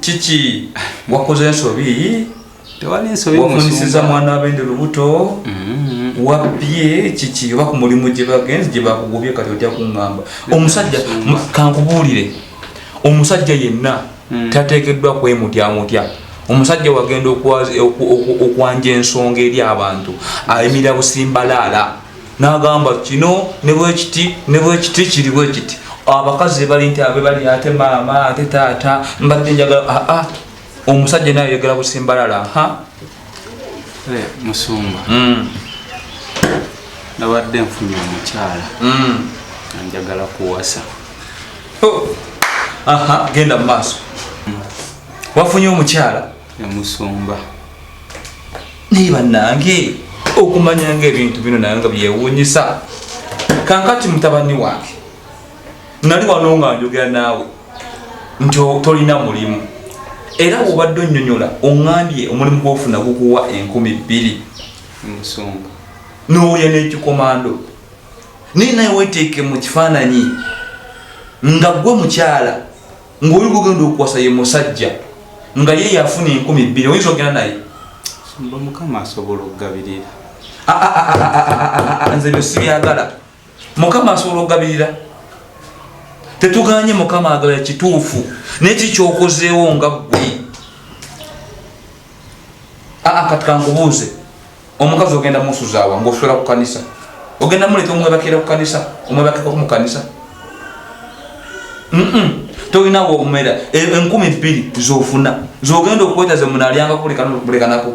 kiki wakoze ensobi tewali nsobi wafunisiza mwana wabende lubuto mm-hmm. wabye kiki oba ku mulimu gye bagenzi gye bakugobye kati ojja kuŋŋamba omusajja kankubuulire omusajja yenna mm. tateekeddwa kwemutya mutya omusajja wagenda okwanja ensonga eri abantu ayimirira busimbalaala nagamba kino nebwekiti nebwekiti kiri bwekiti abakazi bali nti abe bali ate maama ate taata mbadde njagala aa ah, ah, omusajja naye yegala busimbalala ha eh, musumba mm. nabadde nfunye omukyala mm. anjagala kuwasa oh. aha genda mu maaso wafunye omukyala emusumba naye banange okumanya nga ebintu bino naye nga byewunyisa kankati mutabani wange nali wano nga njogera naawe nti tolina mulimu era obadde onyonyola oŋambye omulimu gwofuna gukuwa enkumi bbiri emusumba nowulya nekikomando naye naye weteeke mu kifaananyi nga gwe mukyala ng'oli gugenda okuwasa ye musajja nga ye yafuna enkumi bbiri oyinza ogenda naye mukama asobola okugabirira ah, ah, ah, nze byo sibyagala mukama asobola okugabirira tetuganye mukama agala kituufu naye kikyokozeewo nga ggwe kati kankubuuze omukazi ogenda musuzawa ngosula ku kanisa ogenda muleta omwebakira ku kanisa omwebakira ku mukanisa tolina womera e, enkumi bbiri zofuna zogenda okwetaze munalyanga kulekanako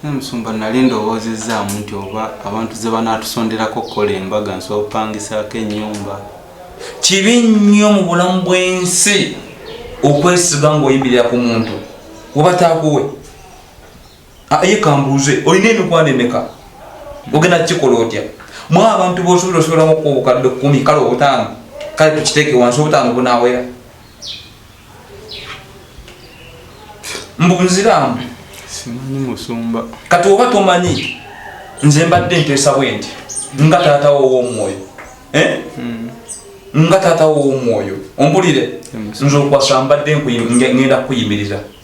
musumba nali ndowoozezaamu nti oba abantu ze banatusonderako okukola embaga nsobola okupangisaako ennyumba kibi nnyo mu bulamu bw'ensi okwesiga ng'oyimirira ku muntu oba taakuwe Ah, ye kambuuze olina emikwano emeka ogenda kukikola otya mwe abantu bosobola osobolamu okuwa obukadde kumi kale obutaano kale tukiteeke wansi obutaano bunawera mbu nziraamu simanyi musumba kati oba tomanyi nze mbadde nteesa bwe nti nga taata wo ow'omwoyo eh? hmm. nga taata wo ow'omwoyo ombulire nze okwasa mbadde ngenda kukuyimiriza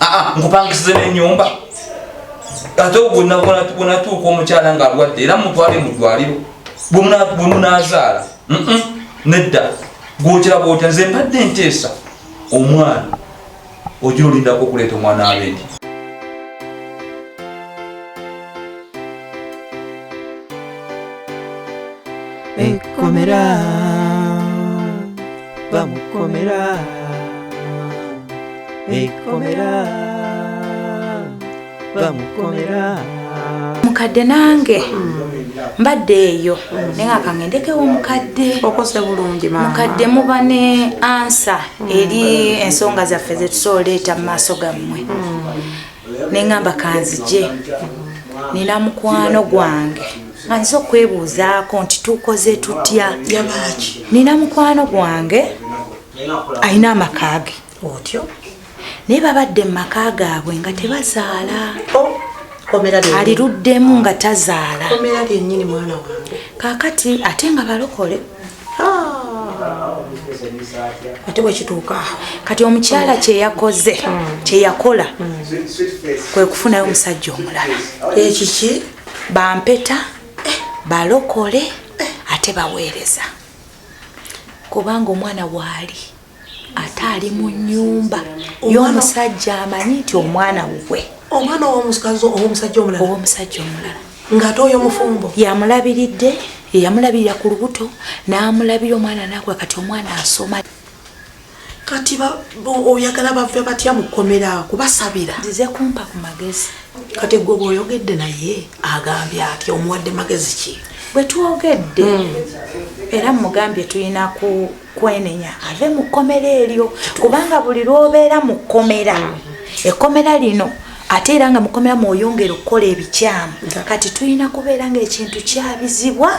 aa ah, ah, nkupangisize nenyumba ate bwenatuuka omukyala nga alwadde era mutwale mudwaliro bwemunazaala nedda gwokiraba otya nze mbadde nteesa omwana ojira olindako okuleeta omwana abendi ekkomera hey, bamukomera ekomera bamukomera mukadde nange mbadde eyo naye nga kangendekewo mukadde okose bulungi mukadde muba ne ansa eri ensonga zaffe zetusobola oleeta mu maaso gammwe ne ŋŋamba kanzije nina mukwano gwange nga nziza okwebuuzaako nti tukoze tutya nina mukwano gwange alina amaka ge otyo naye babadde mu maka gaabwe nga tebazaala oh, aliruddemu nga tazaala kakati ate nga balokole ate bwekituuka kati omukyala kyeyakoze kyeyakola kwe kufunayo omusajja omulala ekiki eh, bampeta eh, balokole eh. ate baweereza kubanga omwana waali ate ali mu nyumba y'omusajja amanyi nti omwana wukwe omwana owomusajja omulala owomusajja omulala ng'ate oyo mufumbo yamulabiridde yeyamulabirira ku lubuto n'amulabira omwana nakula kati omwana asoma kati oyagala bave batya mu kkomera kubasabira zize kumpa ku magezi kati gwe oba oyogedde naye agambye ati omuwadde magezi ki bwe twogedde hmm. era mugambye tulina kwenenya ave mu kkomera eryo kubanga buli lwobeera mu kkomera ekkomera lino ate era nga mukomera mwoyongera okukola ebikyamu kati tulina kubeera nga ekintu kyabizibwa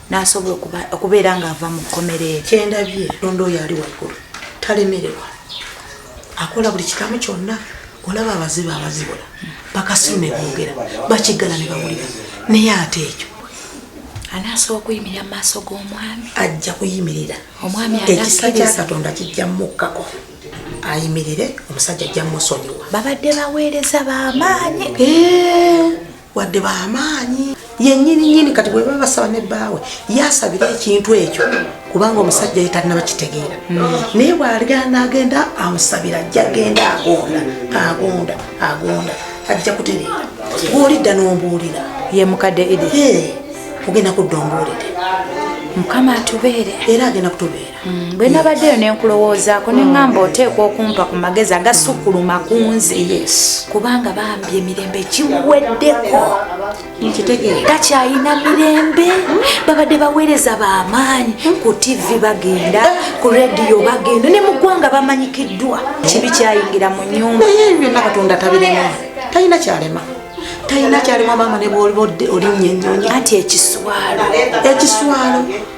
nasobola okubeera nga ava mu kkomera ekyendabye londa oyo ali waggulu talemererwa akola buli kikamu kyonna olaba abazibu abazibula bakasiru ne boogera bakiggala ne bawulira naye ate ekyo anaasobola okuyimirira mu maaso g'omwami ajja kuyimirira omwami ekisa kya katonda kijja mukkako ayimirire omusajja ajja musonyiwa babadde baweereza bamaanyi wadde bamaanyi yenyini nyini kati bweba basaba ne baawe yasabira ekintu ekyo kubanga omusajja yetalina bakitegeera naye bwaligana agenda amusabira ajja genda agonda agonda agonda ajja kutereera bwolidda nombuulira ye mukadde idi ogenda kudda ombuulire mukama atubeere era agenda kutubeera Mm, bwe nabaddeyo ne nkulowoozaako ne ŋŋamba oteekwa okumpa ku magezi agasukkuluma ku nze kubanga bambi emirembe giweddeko takyayina mirembe babadde baweereza bamaanyi ku tivi bagenda ku rediyo bagenda ne mu ggwanga bamanyikiddwa kibi kyayingira mu nyumba naye ebyo byonna katonda tabirema talina kyalema talina kyalema maama ne bwoliba olinnya ennyonyi anti ekiswalo ekiswalo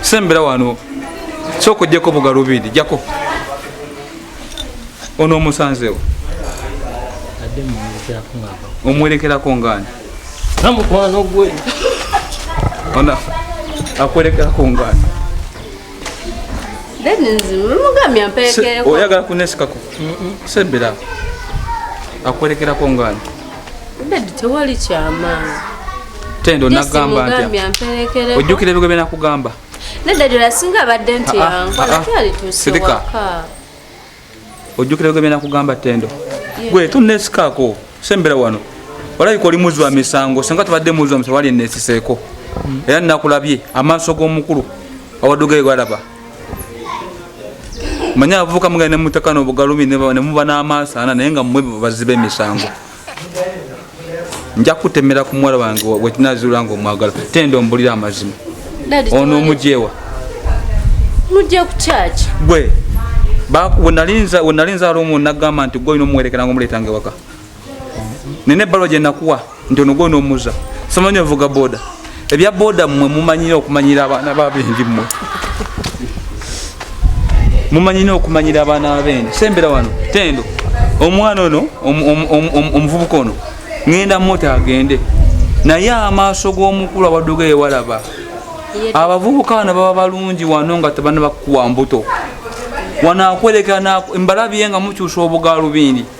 sembera wano soka ojjeko bugalubindi jako ono omusanzewo omwerekerako ngaani namukwano gwe ona akwerekerako ngaani oyagala kunesikako sembera akwerekerako ngaani Dadi tewali kyamaanyi. Tendo nagamba nti ojjukira ebigo bye nakugamba. Nedda ddala singa abadde nti ah, ah, yankola ah, kyali tusiwaka. Ojjukira ebigo bye nakugamba Tendo. Gwe tunnesikako sembera wano. Olabika oli muzi wa misango singa tubadde muzi wa misango wali enneesiseeko. Hmm. Era nnakulabye amaaso g'omukulu awaddugere galaba. manye abavubuka mugenda ne mutaka n'obugalumi ne muba n'amaaso ana naye nga mmwe baziba emisango nja kutemera ku muwala wange wekinazuula nga omwagala tenda ombulira amazima ono omujewa mujja ku kyaki gwe wenalinza wenalinza aliomu nagamba nti gwe olina omuwerekera nga omuleetanga ewaka nina ebbalwa gye nakuwa nti ono gwona omuza somanyi ovuga boda ebya boda mmwe mumanyire okumanyira abaana babendi mmwe mumanyire okumanyira abaana babendi sembera wano tendo omwana ono omuvubuka ono ŋenda mota agende naye amaaso g'omukulu abaduga ewalaba abavubuka bano baba balungi wano nga tebana bakuwa mbuto wano akwerekera mbalabye nga mukyusa obugaalubindi